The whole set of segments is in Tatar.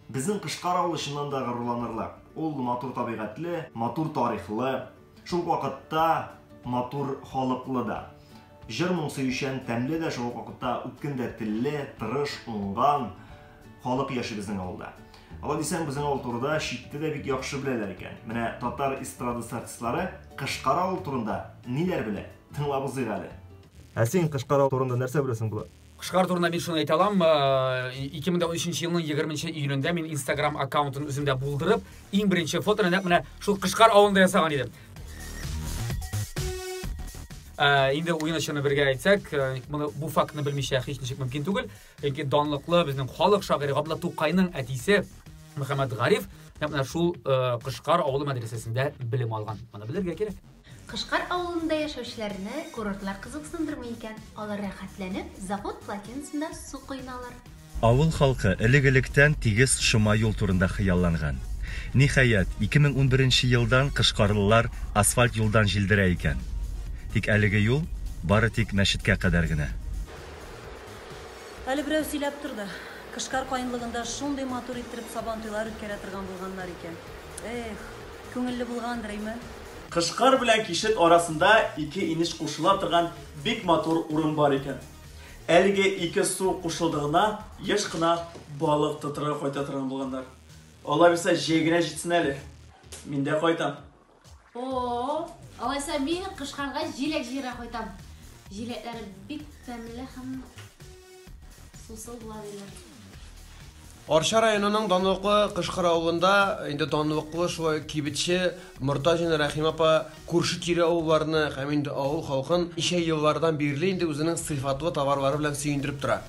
Безнең Кышкар авылы чыннан да горурланырлык. Ул матур табигатьле, матур тарихлы, шул ук вакытта матур халыклы да. Җыр-моң сөючән, тәмле дә, шул ук вакытта үткен дә телле, тырыш, уңган халык яши безнең авылда. Алай дисәң, безнең авыл турыда читтә дә бик яхшы беләләр икән. Менә татар эстрадасы артистлары Кышкар авыл турында ниләр белә, тыңлап узыйк әле. Ә син Кышкар авыл турында нәрсә беләсең, Булат? Кышкар турында мин шуны әйтә алам, 2013 елның 20 июлендә мин Instagram аккаунтын үземдә булдырып, иң беренче фотоны нәкъ менә шул Кышкар авылында ясаган идем. Ә, инде уен очыны бергә әйтсәк, моны бу фактны белмичә һич ничек мөмкин түгел. Чөнки данлыклы безнең халык шагыйре Габдулла Тукайның әтисе Мөхәммәд Гариф нәкъ менә шул Кышкар авылы мәдрәсәсендә белем алган. Моны белергә кирәк. Кышкар авылында яшәүчеләрне курортлар кызыксындырмый икән, алар рәхәтләнеп завод плотинасында су коеналар. Авыл халкы элек-электән тигез шома юл турында хыялланган. Ниһаять, 2011 нче елдан кышкарлылар асфальт юлдан җилдерә икән. Тик әлеге юл бары тик мәчеткә кадәр генә. Әле берәү сөйләп торды, Кышкар каенлыгында шундый матур иттереп Сабантуйлар үткәрә торган булганнар икән. Эх, күңелле булгандыр, име? Кышкар белән Кишет арасында ике инеш кушыла торган бик матур урын бар икән. Әлеге ике су кушылдыгына еш кына балык тотырга кайта торган булганнар. Аллабирса җәй генә җитсен әле. Мин дә кайтам. О-о-о! Алайса мин Кышкарга җиләк җыярга кайтам. Җиләкләре бик тәмле һәм... Сусыл була диләр. Арча районының данлыклы Кышкыр авылында инде данлыклы шулай кибетче Мортазина Рәхим апа күрше тирә авылларны һәм инде авыл халкын ничә еллардан бирле инде үзенең сыйфатлы товарлары белән сөендереп тора.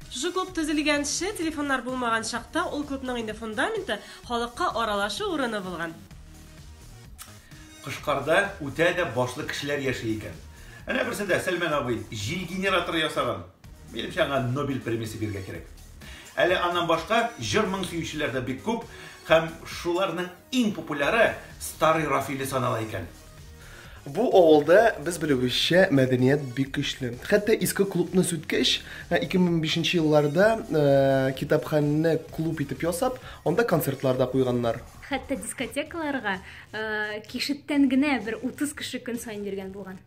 Шушы клуб төзелгәнче, телефоннар булмаган чакта ул клубның инде фундаменты, халыкка аралашу урыны булган. Кышкарда үтә дә башлы кешеләр яши икән. Әнә берсе дә, Сәлмән абый, җил генераторы ясаган. Минемчә, аңа Нобель премиясе бирергә кирәк. Әле аннан башка җыр-моң сөючеләр дә бик күп, һәм шуларның иң популяры Старый Рафили санала икән. Бу авылда, без белүебезчә, мәдәният бик көчле. Хәтта иске клубны сүткәч, 2005 нче елларда китапханәне клуб итеп ясап, анда концертлар да куйганнар. Хәтта дискотекаларга кишеттән генә бер 30 кеше көн саен йөргән булган.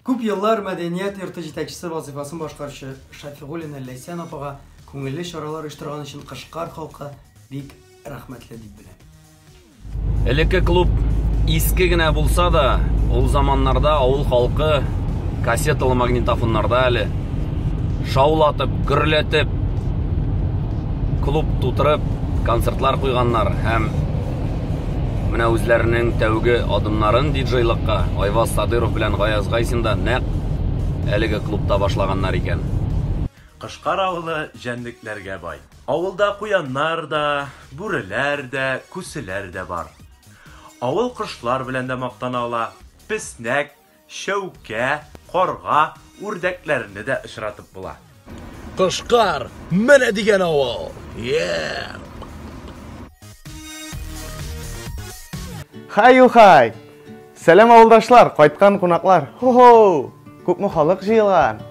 Күп еллар мәдәният йорты җитәкчесе вазыйфасын башкаручы Шафигуллина Ләйсән апага күңелле чаралар оештырган өчен Кышкар халкы бик рәхмәтле дип белә. Элекке клуб иске генә булса да, ул заманнарда авыл халкы кассеталы магнитофоннарда әле шаулатып, гөрләтеп, клуб тутырып, концертлар куйганнар һәм менә үзләренең тәүге адымнарын диджейлыкка Айваз Садыров белән Гаяз Гайсин да нәкъ әлеге клубта башлаганнар икән. Кышкар авылы җәнлекләргә бай. Авылда куяннар да, бүреләр дә, күселәр дә бар. Авыл кошлар белән дә мактана ала, песнәк, Чәүкә, карга, үрдәкләрне дә очратып була. Кошкар, менә дигән авыл! Еэээ! Хай-юхай! Сәлам авылдашлар, кайткан кунаклар! Хо-хоу! Күпме халык җыелган!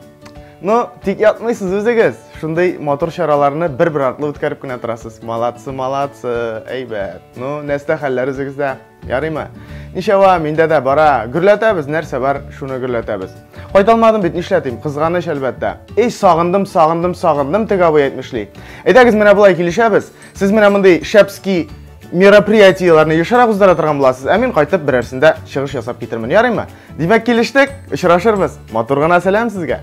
Ну, тик ятмыйсыз үзегез, шундый матур чараларны бер-бер артлы үткәреп кенә торасыз. Молодцы, молодцы, әйбәт. Ну, нәрсә хәлләр үзегездә? Ярыймы? Ничәва, миндә дә бара. Гөрләтәбез, нәрсә бар, шуны гөрләтәбез. Кайталмадым бит, нишләтим? Кызганыч, әлбәттә. Эй, сагындым, сагындым, сагындым, теге абый әйтмешли. Әйдәгез, менә болай килешәбез. Сез менә мондый шәпски мероприятиеләрне ешрак уздыра торган буласыз, ә мин кайтып берәрсендә чыгыш ясап китермен. Ярыймы? Димәк, килештек. Очрашырбыз. Матур гына сәлам сезгә.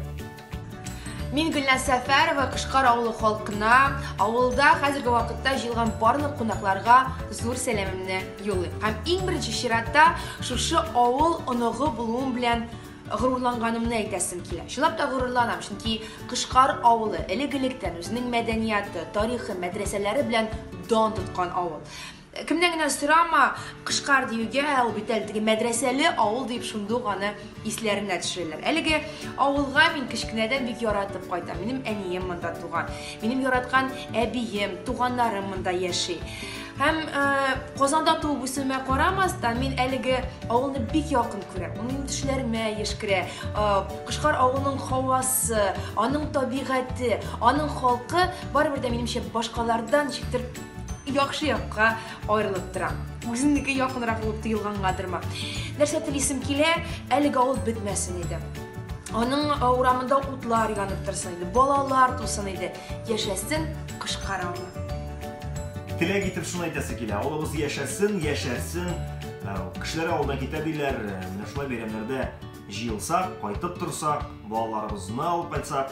Мин Гөлназ Сәфәрова Кышкар авылы халкына, авылда хәзерге вакытта җыелган барлык кунакларга зур сәламемне юллыйм. Һәм иң беренче чиратта шушы авыл оныгы булуым белән горурланганымны әйтәсем килә. Чынлап та горурланам, чөнки Кышкар авылы элек-электән үзенең мәдәнияты, тарихы, мәдрәсәләре белән дан тоткан авыл. Кемнән генә сорама, Кышкар диюгә, ул бит әле теге мәдрәсәле авыл дип шундук аны исләренә төшерәләр. Әлеге авылга мин кечкенәдән бик яратып кайтам. Минем әнием монда туган. Минем яраткан әбием, туганнарым монда яши. Һәм Казанда туып үсүемә карамастан, мин әлеге авылны бик якын күрәм. Ул минем төшләремә еш керә. Кышкар авылының һавасы, аның табигате, аның халкы барыбер дә минемчә башкалардан ничектер Яхшы якка аерылып тора. Үземнеке якынрак булып тоелгангадырмы. Нәрсә телисем килә, әлеге авыл бетмәсен иде. Аның э, урамында утлар янып торсын иде, балалар тусын иде. Яшәсен кышкарамы. Теләк итеп шуны әйтәсе килә. Авылыбыз яшәсен, яшәрсен. Ә, Кешеләр авылдан китә диләр. Ә, Менә шулай бәйрәмнәрдә җыелсак, кайтып торсак, балаларыбызны алып кайтсак,